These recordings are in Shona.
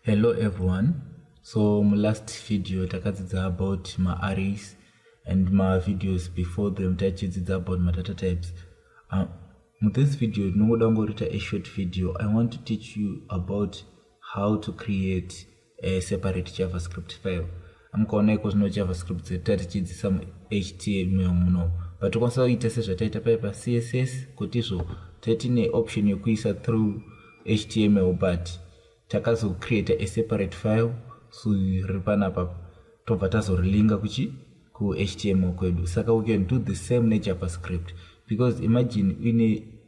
hello everyone so mulast video takadzidza about maarrays and mavideos before them taichidzidza about madata types uh, muthis video ndinongoda kungorita a short video i want to teach you about how to create a separate javascript file amukaona iko zvino javascript dzedu tatichidzisa muhtml muno but tokwanisa kuita sezvataita paye pacss kuti izvo taitine option yekuisa through html but takazocreata a separate file so riri panapa tobva tazorilinga kuchi kuhtml kwedu saka we can do the same nejavascript because imagine uine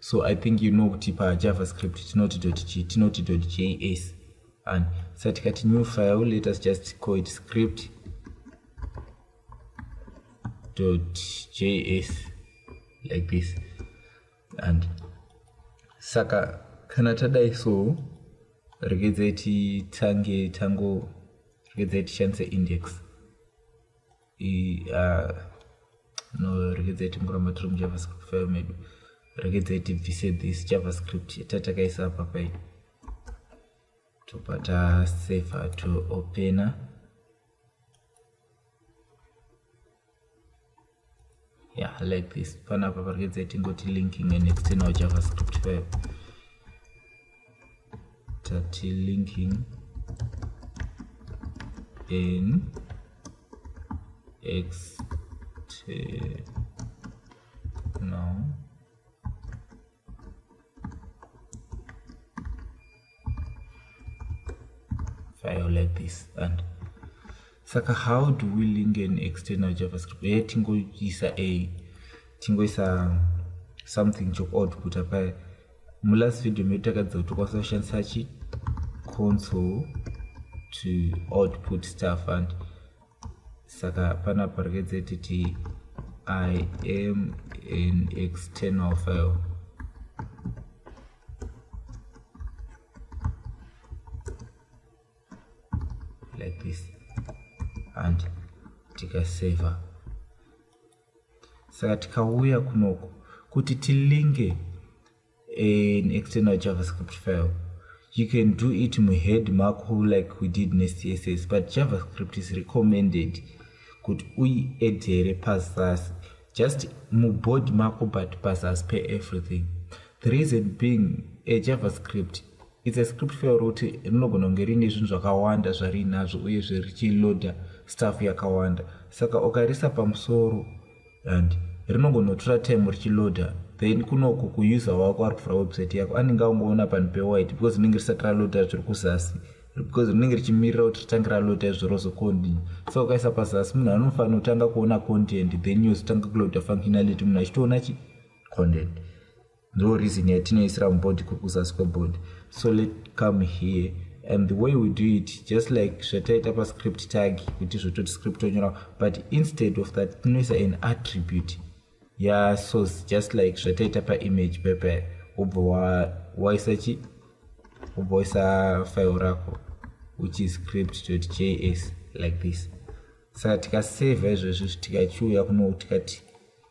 so i think you know kuti pajavascript tinoti dotg tinoti dotjs and sa tikati new file let us just call it script dotjs like this and saka kana tadai so regedzai titange tango regedzai tishandise index uh, no regedzai timboramba tiri mujavascript file medu regedzai tibvise this javascript yatakaisa apa pai tobva taseva toopena to yeah like this panapa pari kuedza tingoti linking an external javascript file tati linking an external file like this and saka how do we link an external javascript e tingoisa a tingoisa something chokuoutputa paye mulast video medu takadzidza kuti tokwanisa kushandisa chi console to output stuff and saka pana parekedze titi i am an external file like this and tikaseva saka tikauya kunoku kuti tilinge an external javascript file you can do it muhead mako like we did necss but javascript is recommended kuti uiedhere pazasi just mubody mako but pazasi peeverything The reason being a javascript it's a script file rokuti rinogona kunge riine zvinhu zvakawanda zvariinazvo uyezve richiloda staff yakawanda saka ukarisa pamusoro and rinongonotora time richiloda then kunoku kuuser wako ari kuvhura website yako anenge aungoona panhu pewide because rinenge risati raloda zviri kuzasi because rinenge richimirira kuti ritange raloda izvo rozocontinue so ukaisa pazasi munhu anofanira kutanga kuona content then yozotanga kuloda functionality munhu achitoona chii content ndo reason yatinoisira mubody kuri kuzasi kwebody so let come here and the way we do it just like zvataita pascript tag kuti zvototi script onyora but instead of that tinoisa an attribute yasource just like zvataita paimage pepe wobva waisa chi wobva waisa file rako which is script js like this saka tikaseva izvezvi tikachiuya kuno tikati